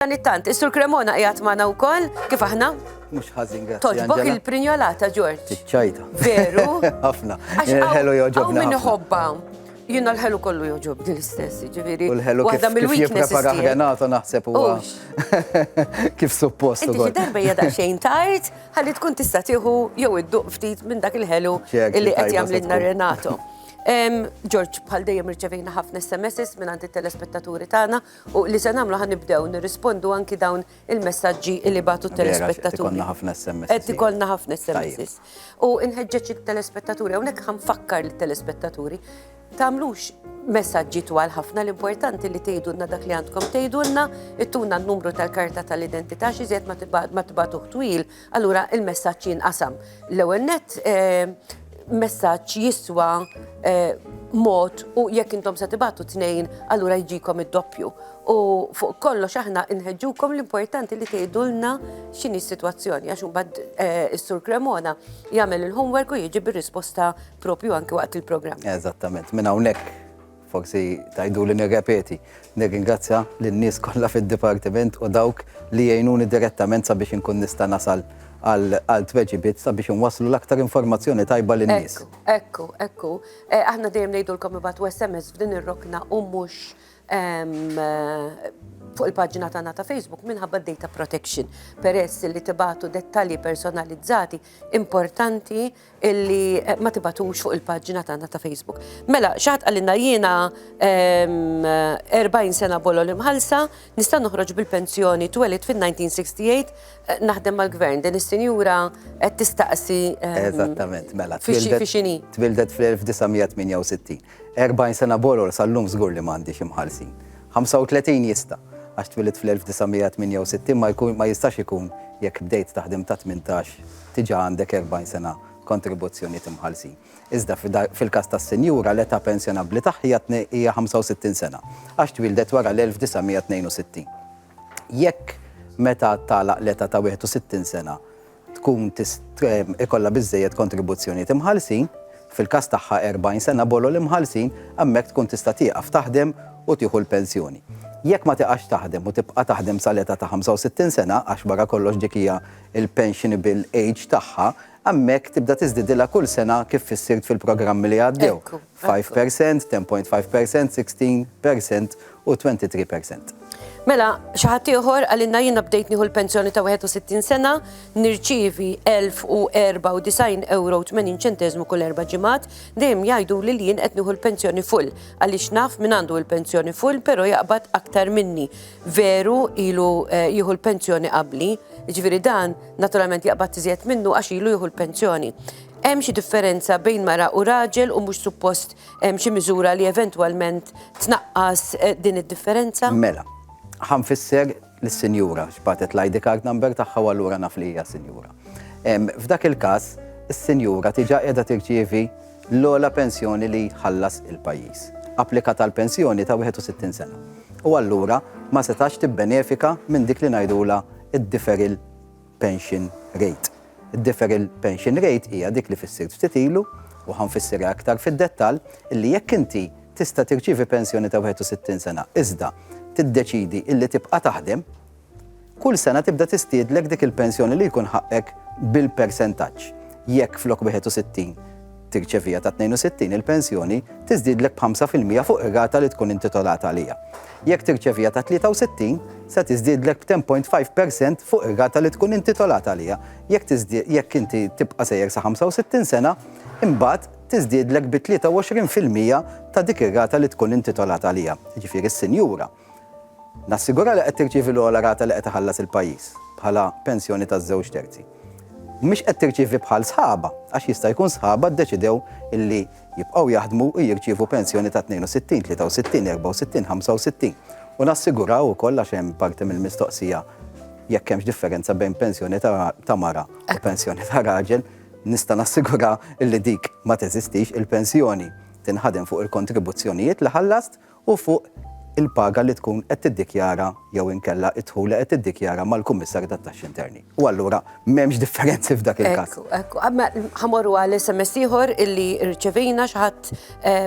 Dan it-tant, is-Sur Cremona qiegħed magħna wkoll, kif aħna? Mhux ħażin, grazzi. Toġbok il-prinjolata, Ġorġ. Tiċċajta. Veru? Ħafna. Għax ħelu joġobna. Min ħobba. Jina l-ħelu kollu joġob din l-istess, ġiviri. U l-ħelu kif jiprepara ħrenata naħseb u kif suppost. Inti xi darba jada xejn tard, ħalli tkun tista' tieħu jew idduq ftit minn dak il-ħelu illi qed jagħmlilna Renato. George, bħal dejjem irċevejna ħafna SMS minn għandi telespettaturi tagħna U li se nagħmlu ħa nibdew nirrispondu anki dawn il-messaġġi li bagħtu t-telespettaturi. Ikollna ħafna SMS. Qed ikollna ħafna SMS. U nħeġġeġ it-telespettaturi hawnhekk ħa nfakkar lit-telespettaturi tagħmlux messaġġi twal ħafna l-importanti li tgħidulna dak li għandkom tgħidulna, ittuna n-numru tal-karta tal-identità xi ma tibatuh twil Allura il-messaġġ jinqasam. L-ewwel nett messaġġ jiswa mod u jekk intom se tibatu tnejn allura jġikom id-doppju. U fuq kollox aħna nħeġġukom l-importanti li tgħidulna x'inhi s-sitwazzjoni għax imbagħad is-Sur Cremona jagħmel il-homework u jiġi bir-risposta propju anke waqt il-programm. Eżattament, minn hawnhekk Forsi tgħiduli nirrepeti, nirringrazzja lin-nies kollha fid-dipartiment u dawk li jgħinuni direttament sabiex inkun nista' nasal għal tweġibiet sabiex inwasslu l-aktar informazzjoni tajba lin-nies. Ekku, ekku, ekku. Aħna dejjem ngħidulkom ibatu SMS f'din ir-rokna u mhux fuq il-paġna tagħna ta' Facebook minħabba data protection peress li tibatu dettalji personalizzati importanti illi eh, ma tibatux fuq il-paġġina tagħna ta' Facebook. Mela, xaħat għalina jiena 40 sena bolol imħalsa, nista' noħroġ bil-pensjoni twelid fin-1968 eh, naħdem mal-gvern. Din is-sinjura qed tistaqsi. Eżattament, mela. Fixini. Twildet fl-1968. 40 sena boror sal-lum żgur li m'għandix imħallsin. 35 jista', għax twilidt fl-1968 ma jistax ikun jekk bdejt taħdem ta' tmintax diġà għandek 40 sena kontribuzzjonijiet imħallsin. Iżda fil-każ tas-sinjura l-età pensjonabbli tagħha hija 65 sena, għax twieldet wara l-1962. Jekk meta tagħlaq l-età ta' 61 sena tkun ikollha biżżejjed kontribuzzjonijiet imħallsin, fil-każ tagħha 40 sena bolol imħallsin, hemmhekk tkun tista' tieqaf taħdem u tieħu l-pensjoni. Jekk ma tiqax taħdem u tibqa' taħdem sal-età ta' 65 sena, għax wara kollox dik hija l-pensionable age tagħha, hemmhekk tibda tiżdiedilha kull sena kif fissirt fil-programmi li għaddew. Five per cent, ten point five per cent, sixteen per cent u twenty three per cent. Mela, xi ħadd ieħor għalilna jiena bdejt nieħu l-pensjoni ta' 61 sena, nirċievi 1094 euro 80 ċenteżmu kull erba' ġimgħat, dejjem jgħidu li jien qed nieħu l-pensjoni full għaliex naf min għandu l-pensjoni full però jaqbad aktar minni. Veru ilu eh, jieħu l-pensjoni qabli, ġifieri dan naturalment jaqbad iżjed minnu għax ilu jieħu l-pensjoni. Hemm xi differenza bejn mara u raġel u mhux suppost hemm xi miżura li eventwalment tnaqqas din id-differenza? Mela, ħa nfisser lis-sinjura x'bagħtet l-ID card number tagħha u allura naf li hija sinjura. F'dak il-każ, is-sinjura diġà qiegħda tirċievi l-ogħla pensjoni li jħallas il-pajjiż. Applikat għal pensjoni ta' 61 sena. U allura ma setax tibbenefika minn dik li ngħidulha d-deferral pension rate. Id-deferral pension rate hija dik li fissirt ftit ilu, u ħa nfissirha iktar fid-dettall, illi jekk inti tista' tirċievi pensjoni ta' 61 sena iżda tiddeċiedi illi tibqa' taħdem, kull sena tibda tistiedlek dik il-pensjoni li jkun ħaqqek bil-persentaġġ. Jekk flok 61 tirċeviha ta' 62, il-pensjoni tiżdiedlek b'ħamsa fil-mija fuq ir-rata li tkun intitolata għaliha. Jekk tirċeviha ta' 63, se tiżdiedlek b'ten point five per cent fuq ir-rata li tkun intitolata għaliha. Jekk tiżdied jekk inti tibqa' sejjer sa 65 sena, imbagħad tiżdiedlek bi 23 fil-mija ta' dik ir-rata li tkun intitolata għaliha, jiġifieri s-sinjura. Nassigura li qed tirċievi l-ogħla rata li qed iħallas il-pajjiż bħala pensjoni taż-żewġ terzi. Mhix qed tirċievi bħal sħabha, għax jista' jkun sħabha ddeċidew illi jibqgħu jaħdmu u jirċievu pensjoni ta' 62, 63, 64, 65. U nassiguraw ukoll għax hemm parti mill-mistoqsija jekk hemmx differenza bejn pensjoni ta' mara u pensjoni ta' raġel, nista' nassigura illi dik ma teżistix il-pensjoni tinħadem fuq il-kontribuzzjonijiet li ħallast u fuq il-paga li tkun qed tiddikjara jew inkella d-dħul li qed tiddikjara mal-Kummissarju tat-Taxxi Interni. U allura m'hemmx differenzi f'dak il-każ. Ekku, ekku. Imma ħa morru għal SMS ieħor illi rċevejna, xi ħadd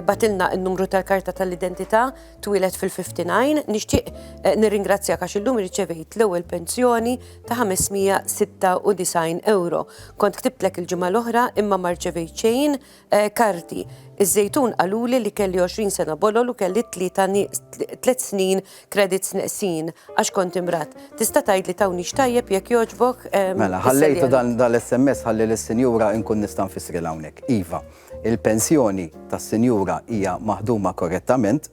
bagħtilna n-numru tal-karta tal-identità, twieled fil-59. Nixtieq nirringrazzjak għax illum irċevejt l-ewwel pensjoni ta' 596 ewro. Kont ktibtlek il-ġimgħa l-oħra imma ma rċevejt xejn Karti. Iż-Żejtun qaluli li kelli 20 sena bolol u kelli tlieta nieqs tliet snin credits neqsin għax kont imradd. Tista' tgħidli tawnix tajjeb jekk jogħġbok? Mela, ħallejtu dan l-SMS ħalli lis-sinjura inkun nista' nfissrilha hawnhekk. Iva, il-pensjoni tas-sinjura hija maħduma korrettament.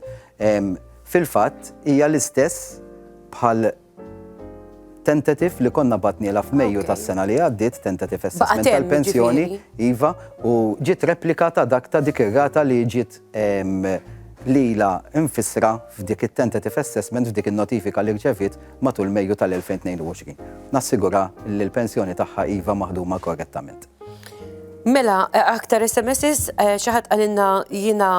Fil-fatt hija l-istess bħal Tentative li konna bagħtnielha f'Mejju tas-sena li għaddiet, tentative assessment tal-pensjoni, iva, u ġiet replika ta' dak ta' dik ir-rata li ġiet lilha mfissra f'dik it-tentative assessment f'dik in-notifika li rċeviet matul Mejju tal-2022. Nassigura li l-pensjoni tagħha iva maħduma korrettament. Mela, aktar SMSs, eh, xi ħadd qalilna jiena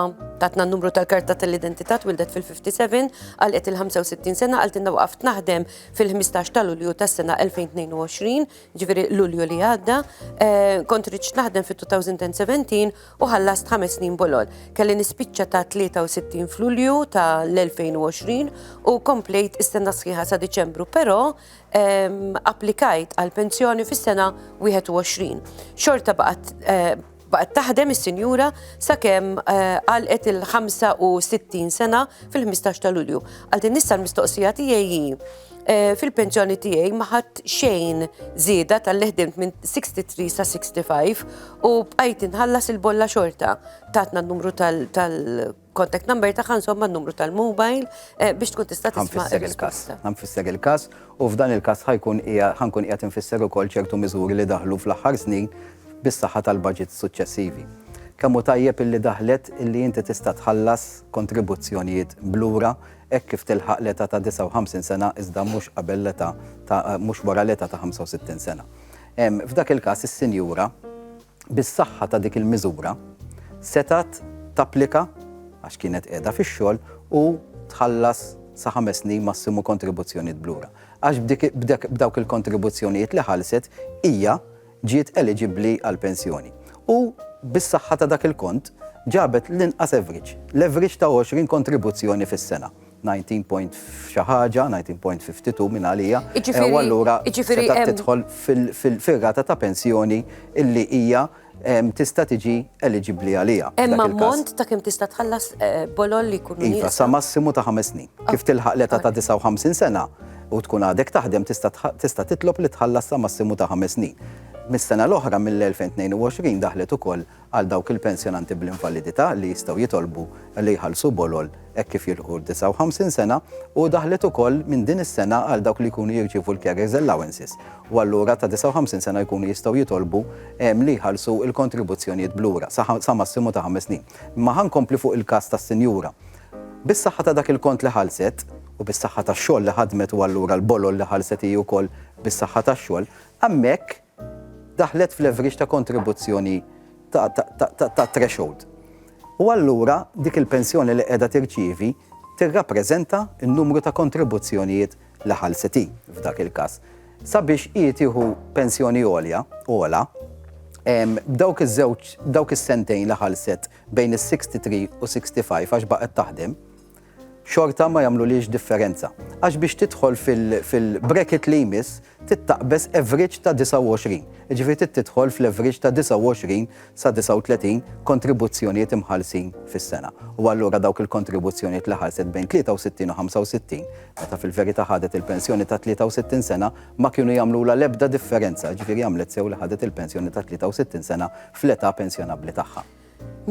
tatna n-numru tal-karta tal-identità twildet fil-57, għalqet il-65 sena, għaltinna waqaft naħdem fil-15 ta' Lulju tas-sena 2022, ġifieri Lulju li għadda, eh, kont riċt naħdem fit-2017 u ħallast ħames snin bolol. Kelli nispiċċa ta' 63 f'Lulju ta' l-2020 u komplejt istenna sħiħa sa' Diċembru, però applikajt għal pensjoni fis-sena 21. Xorta baqgħet eh, baqgħet taħdem is-sinjura sakemm eh, għalqet il-65 sena fil-15 ta' Lulju. Għal din nista' l-mistoqsija tiegħi eh, fil-pensjoni tiegħi ma ħadd xejn żieda tal-leħdimt minn 63 sa 65 u bqajt inħallas il-bolla xorta tatna n-numru tal contact number tagħha insomma n-numru tal-mobile eh, biex tkun tista' tisma' il-każ. Ħanfisser il-każ u f'dan il-każ ħajkun ħankun qiegħed infisser ukoll ċertu miżuri li daħlu fl-aħħar snin bis-saħħa tal-budget suċċessivi. Kemm hu tajjeb illi daħlet illi inti tista' tħallas kontribuzzjonijiet blura hekk kif tilħaq l-età ta' 59 sena iżda mhux qabel l-età ta' mhux wara l-età ta' 65 sena. F'dak il-każ is-sinjura bis-saħħa ta' dik il-miżura, setgħet tapplika għax kienet qiegħda fix-xogħol u tħallas sa ħames snin massimu kontribuzzjonijiet b'lura. Għax b'dawk il-kontribuzzjonijiet li ħallset, hija ġiet eliġibbli għall-pensjoni. U bis-saħħa ta' dak il-kont, ġabet l-inqas average, l-average ta' 20 kontribuzzjoni fis-sena. 19 point f'xi ħaġa, 19 point 52 minn għalija, u allura tista' tidħol fir-rata ta' pensjoni illi hija tista' tiġi eliġibbli għaliha. Hemm ammont ta' kemm tista' tħallas bolol li jkun nieqsa? Iva, sa massimu ta' ħames snin. Kif tilħaq l-età ta' 59 sena u tkun għadek taħdem tista' titlob li tħallas sa massimu ta' ħames snin. Mis-sena l-oħra mill-2022 daħlet ukoll għal dawk il-pensjonanti bl-invalidità li jistgħu jitolbu li jħallsu bolol hekk kif jilħqu d-59 sena u daħlet ukoll minn din is-sena għal dawk li jkunu jirċievu l-carers allowances u allura ta' 59 sena jkunu jistgħu jitolbu li jħallsu l-kontribuzzjonijiet b'lura sa massimu ta' ħames snin. Imma ħa nkompli fuq il-każ tas-sinjura. Bis-saħħa ta' dak il-kont li ħallset u bis-saħħa tax-xogħol li ħadmet u allura l-bolol li ħallset hi wkoll bis-saħħa tax-xogħol, hemmhekk, daħlet f'leverage ta' kontribuzzjoni ta' threshold. U allura dik il-pensjoni li qiegħda tirċievi tirrappreżenta n-numru ta' kontribuzzjonijiet li ħallset hi f'dak il-każ. Sabiex hi tieħu pensjoni għolja, ogħla, b'dawk iż-żewġ, b'dawk is-sentejn li ħallset bejn is-63 u 65 għax baqgħet taħdem, xorta ma jagħmlulhiex differenza għax biex tidħol fil-bracket li jmiss trid taqbeż average ta' 29, jiġifieri trid tidħol fl-average ta' 29 sa 39 kontribuzzjonijiet imħallsin fis-sena. U allura dawk il-kontribuzzjonijiet li ħallset bejn 63 u 65, meta fil-verità ħadet il-pensjoni ta' 63 sena, ma kienu jagħmlulha l-ebda differenza, jiġifieri għamlet sew li ħadet il-pensjoni ta' 63 sena fl-età pensjonabbli tagħha.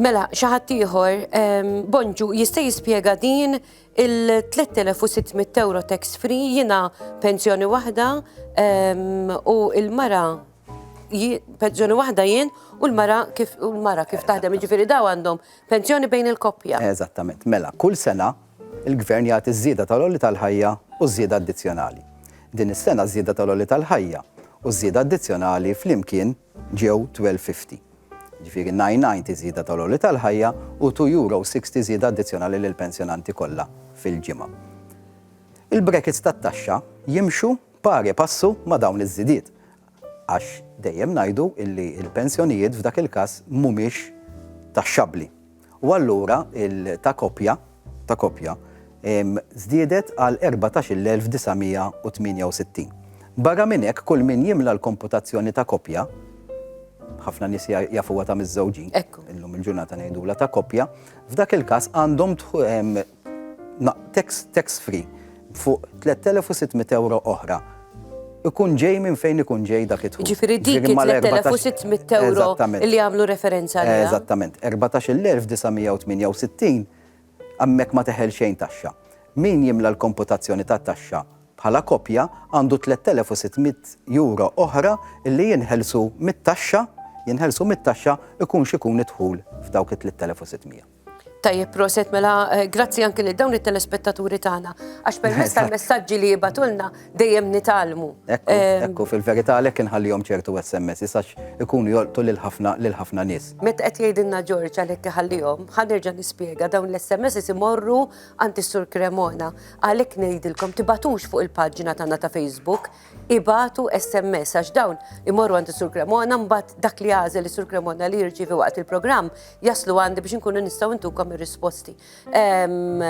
Mela, xi ħadd ieħor, ehm, Bonġu, jista' jispjega din il-3600 euro tax free jiena pensjoni waħda ehm, u il-mara pensjoni waħda jien u l-mara kif u l-mara kif taħdem, ġifieri daw għandhom pensjoni bejn il-koppja. Eżattament. Mela, kull sena il-gvern jagħti żieda tal-olli tal-ħajja u żieda addizzjonali. Din is-sena żieda tal-olli tal-ħajja u żieda addizzjonali flimkien Ġew 12.50, jiġifieri 9.90 żieda tal-għoli tal-ħajja u €2.60 żieda addizzjonali lill-pensjonanti kollha fil-ġimgħa. Il-brekits tat-taxxa jimxu pari passu ma' dawn iż-żidiet, għax dejjem ngħidu li l-pensjonijiet f'dak il-każ mhumiex taxxabbli. U allura il ta' koppja, ta' koppja, żdiedet għal 14,968. Barra minn hekk, kull min jimla l-komputazzjoni ta' koppja, ħafna nies jafuha ta' miżżewġin, illum il-ġurnata ngħidulha ta' koppja, f'dak il-każ għandhom tax free, fuq 3,600 ewro oħra, ikun ġej minn fejn ikun ġej dak id-dħul. Jiġifieri dik il-3,600 ewro li għamlu referenza għaliha. Eżattament. 14,968 hemmhekk ma teħel xejn taxxa. Min jimla l-komputazzjoni tat-taxxa bħala koppja għandu 3,600 ewro oħra li jinħelsu mit-taxxa, jinħelsu mit-taxxa ikun x'ikun id-dħul f'dawk it-3,600. Tajjeb, proset, mela, eh, grazzi anki li dawn it-telespettaturi tagħna, għax permess tal-messaġġi li jibatulna dejjem nitalmu. Ekku, ehm, fil-verità għalhekk inħallihom ċertu SMS, isax ikunu jolqtu lil ħafna lil ħafna nies. Met qed jgħidilna Ġorġ għalhekk iħallihom, ħanerġa' nispjega dawn l-SMS isimorru għand is-Sur Cremona. Għalhekk ngħidilkom tibatux fuq il-paġna tagħna ta' Facebook ibagħtu SMS għax dawn imorru għand is-Sur Cremona mbagħad dak li għażel is-Sur Cremona li jirċievi waqt il-programm jaslu għandi biex inkunu nistgħu ntukom ir-risposti. Ehm,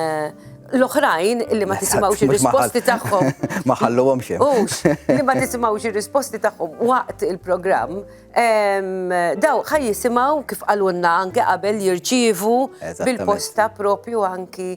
L-oħrajn li ma tisimgħux ir-risposti tagħhom. Ma ħalluhom xejn. Ux, li ma tisimgħux ir-risposti tagħhom waqt il-programm, ehm, daw ħaj jisimgħu kif qalulna anke qabel jirċievu Eżattament. bil-posta propju anki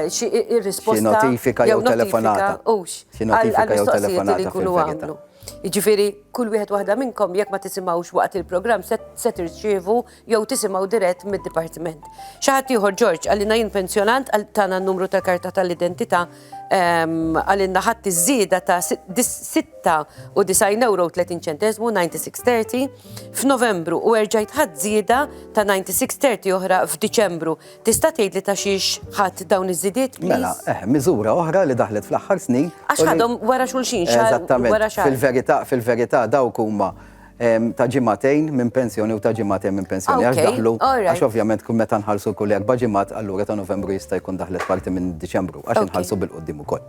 xi irrisposta. Xi notifika jew telefonata. Ux. Xi notifika jew telefonata. Li kunu għamlu. Jiġifieri kull wieħed waħda minnkom jekk ma tisimgħux waqt il-programm se tirċievu jew tisimgħu dirett mid-dipartiment. Xi ħadd ieħor Ġorġ għalina jien pensjonant għal tagħna n-numru tal-karta tal-identità għalina ħadd iż-żieda ta' 96 euro 30 ċenteżmu 9630 f'Novembru u erġajt ħadd żieda ta' 9630 oħra f'Diċembru. Tista' tgħidli ta' xiex ħadd dawn iż-żidiet? Mela, eh, miżura oħra li daħlet fl-aħħar snin. Għax ħadhom wara xulxin xahar. Eżattament. Fil-verità, fil-verità dawk huma ehm, ta' ġimatejn minn pensjoni u ta' ġimatejn minn pensjoni. Għax daħlu, għax ovvjament kun meta nħallsu kull erba' ġimat, allura ta' Novembru jista' jkun daħlet parti minn Diċembru, għax nħallsu bil-qoddim ukoll.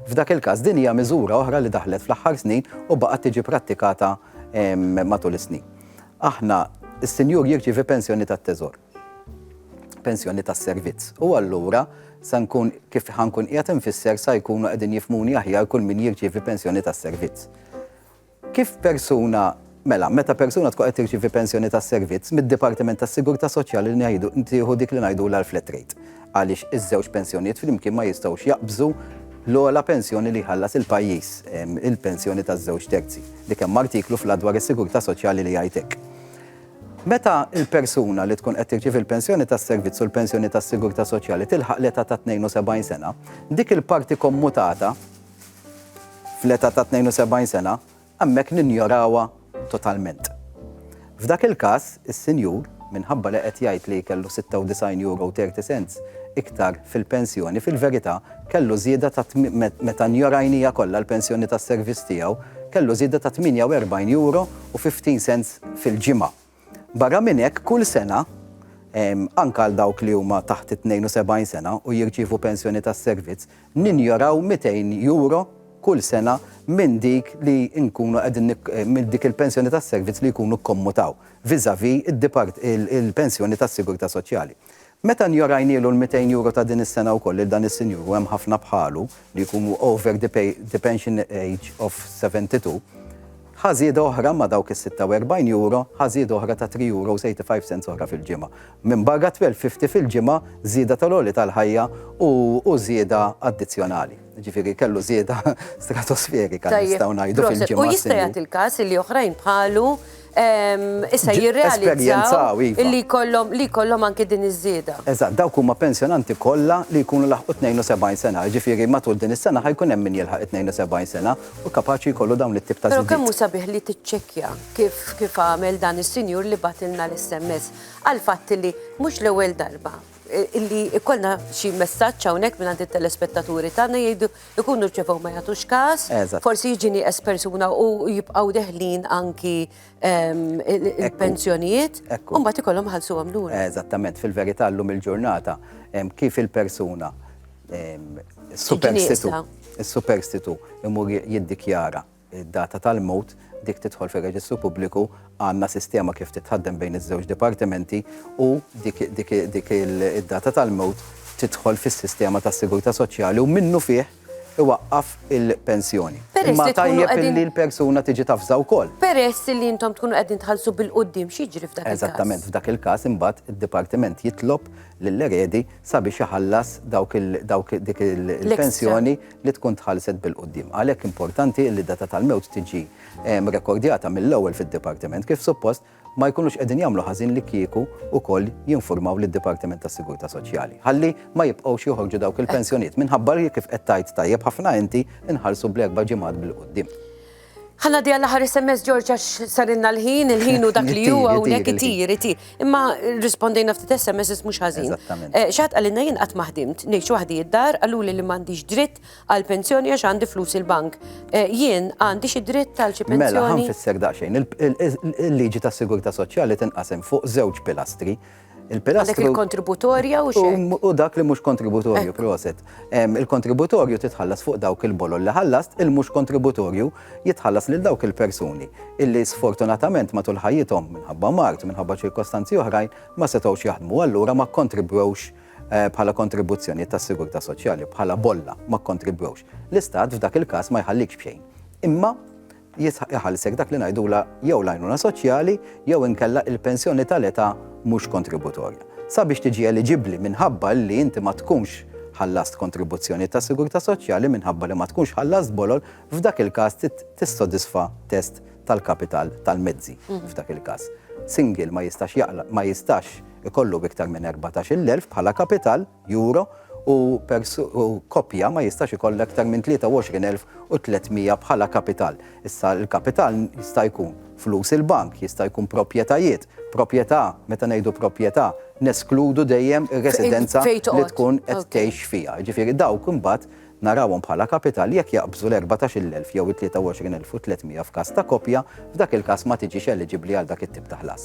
F'dak il-każ din hija miżura oħra li daħlet fl-aħħar snin u baqgħet tiġi prattikata ehm, matul is-snin. Aħna, is-sinjur jirċievi pensjoni tat-teżor, pensjoni tas-servizz, u allura sa nkun, kif ħa nkun qiegħed infisser, sa jkunu qegħdin jifhmuni aħjar kull min jirċievi pensjoni tas-servizz. Kif persuna, mela, meta persuna tkun qed tirċievi pensjoni tas-servizz, mid-Dipartiment tas-Sigurtà Soċjali ngħidu, tieħu dik li ngħidulha l-flat rate. għaliex iż-żewġ pensjonijiet flimkien ma jistgħux jaqbżu l-ogħla pensjoni li jħallas il-pajjiż, il-pensjoni taż-żewġ terzi, li kemm artiklu fl-Att dwar is-Sigurtà Soċjali li jgħid hekk. Meta l-persuna li tkun qed tirċievi l-pensjoni tas-servizz u l-pensjoni tas-sigurtà soċjali tilħaq l-età ta' 72 sena, dik il-parti kommutata fl-età ta' 72 sena hemmhekk ninjorawha totalment. F'dak il-każ, is-sinjur, minħabba li qed jgħid li kellu 96 euro u 30 cents iktar fil-pensjoni, fil-verità kellu żieda ta' meta njorajnija kollha l-pensjoni tas-servizz tiegħu, kellu żieda ta' 48 euro u 50 cents fil-ġimgħa. Barra minn hekk, kull sena, anke għal dawk li huma taħt it-72 sena u jirċievu pensjoni tas-servizz, ninjoraw 200 euro kull sena minn dik li nkunu qegħdin minn dik il-pensjoni tas-servizz li jkunu kkommutaw vis-à-vis il-pensjoni tas-sigurtà soċjali. Meta njorajnielu l-mitejn euro ta' din is-sena wkoll lil dan is-sinjur u hemm ħafna bħalu li jkunu over the pay the pension age of 72, ħa żieda oħra ma' dawk is-46 euro, ħa żieda oħra ta' three euros eighty five cents oħra fil-ġimgħa. Minbarra twelve fifty fil-ġimgħa żieda tal-għoli tal-ħajja u u żieda addizzjonali. Jiġifieri kellu żieda stratosferika nistgħu ngħidu fil-ġimgħa. Tajjeb, proset. U jista' jagħti l-każ illi oħrajn bħalu issa jirrealizzaw iva. li jkollhom li jkollhom anke din iż-żieda. Eżatt, dawk huma pensjonanti kollha li jkunu laħqu 72 sena, jiġifieri matul din is-sena ħa jkun hemm min jilħaq 72 sena u kapaċi jkollu dawn it-tip ta' żidiet. Però kemm hu sabiħ li tiċċekkja kif kif għamel dan is-sinjur li bagħtilna l-SMS għal fatt li mhux l-ewwel darba illi ikollna xi messaġġ hawnhekk mingħand it-telespettaturi tagħna jgħidu ikunu rċevew ma jagħtux każ, forsi jiġi nieqes persuna u jibqgħu deħlin anki ehm, il-pensjonijiet, u mbagħad ikollhom ħalsu għamlur. Eżattament, fil-verità llum il-ġurnata ehm, kif il-persuna ehm, superstitu, il-superstitu imur jiddikjara id-data tal-mewt, dik tidħol fir-reġistru pubbliku, għandna sistema kif titħaddem bejn iż-żewġ dipartimenti u dik id-data tal-mewt tidħol fis-sistema tas-sigurtà soċjali u minnufih iwaqqaf il-pensjoni. Imma tajjeb li l-persuna tiġi tavża wkoll. Peress li intom tkunu qegħdin tħallsu bil-quddiem xi jiġri f'dak il-każ? Eżattament, f'dak il-każ imbagħad id-dipartiment jitlob lill-eredi sabiex iħallas dik il-pensjoni li tkun tħallset bil-quddiem. Għalhekk importanti illi d-data tal-mewt tiġi rekordjata mill-ewwel fid-Dipartiment kif suppost ma jkunux qegħdin jagħmlu ħażin li kieku wkoll jinfurmaw lid-Dipartiment tas-Sigurtà Soċjali ħalli ma jibqgħux joħorġu dawk il-pensjonijiet minħabba li kif qed tgħid tajjeb ħafna inti nħallsu bl-erba' ġimgħat bil-quddiem. Ħa ngħaddi għall-aħħar SMS Ġorġ għax sarilna l-ħin, il-ħin u dak li huwa hawnhekk itir, itir. Imma rispondejna ftit SMS mhux ħażin. Eh, Xatt qalilna jien qatt ma ħdimt, ngħix waħdi id-dar, qaluli li m'għandix dritt għal pensjoni għax għandi flus il-bank. Eh, jien għandi xi dritt għal xi mela, pensjoni. Mela, ħanfissek daqsxejn. Il-liġi tas-sigurtà soċjali tinqasem fuq żewġ pilastri. Il-pilastru. Dak il-kontributorja u xi? U dak li mhux kontributorju, proset. Il-kontributorju titħallas fuq dawk il-bolol li ħallast, il-mhux kontributorju jitħallas lil dawk il-persuni illi sfortunatament matul ħajjithom minħabba mard, minħabba ċirkostanzi oħrajn ma setgħux jaħdmu allura ma kkontribwewx Eh, bħala kontribuzzjoni tas sigurtà soċjali, bħala bolla ma kontribwewx. L-istat f'dak il-każ ma jħallikx bxejn. Imma jisħaq iħallsek dak li ngħidulha jew l-għajnuna soċjali jew inkella il-pensjoni tal-età mhux kontributorja. Sabiex tiġi eliġibbli minħabba li inti ma tkunx ħallast kontribuzzjonijiet tas-sigurtà soċjali minħabba li ma tkunx ħallast bolol, f'dak il-każ trid tissodisfa test tal-kapital tal-mezzi f'dak il-każ. Single ma jistax jaqla' ma jistax ikollu iktar minn erbatax-il elf bħala kapital. Euro u koppja ma jistax ikollha iktar minn 23,300 bħala kapital. Issa l-kapital jista' jkun flus il-bank, jista' jkun proprjetajiet, proprjetà, meta ngħidu proprjetà neskludu dejjem ir-residenza li tkun qed tgħix fiha. Jiġifieri dawk imbagħad narawhom bħala kapital jekk jaqbżu l-erbatax-il elf jew it-tlieta-u-għoxrin elf u tliet miegħa f'każ ta' koppja, f'dak il-każ ma tiġix eliġibbli għal dak it-tip ta' ħlas.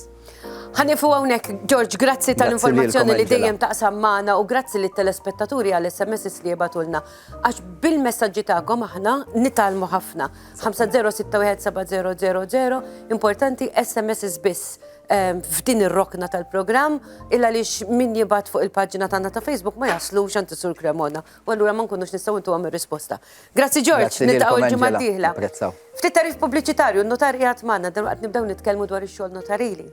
Ħa nieqfu hawnhekk, George, grazzi tal-informazzjoni li dejjem taqsam magħna u grazzi lit-telespettaturi għall-SMSs li jibgħatulna. Għax bil-messaġġi tagħkom aħna nitgħallmu ħafna. 50617000, importanti SMSs biss ehm, f'din ir-rokna tal-programm, illa lix min jibgħat fuq il-paġna tagħna ta' Facebook ma jaslux għand Sur Cremona. u allura ma nkunux nistgħu ntuhom ir-risposta. Grazzi George, niltaqgħu l-ġimgħa d-dieħla. Ftit tarif pubbliċitarju, n-notar qiegħed magħna, dalwaqt nibdew nitkellmu dwar ix-xogħol notarili.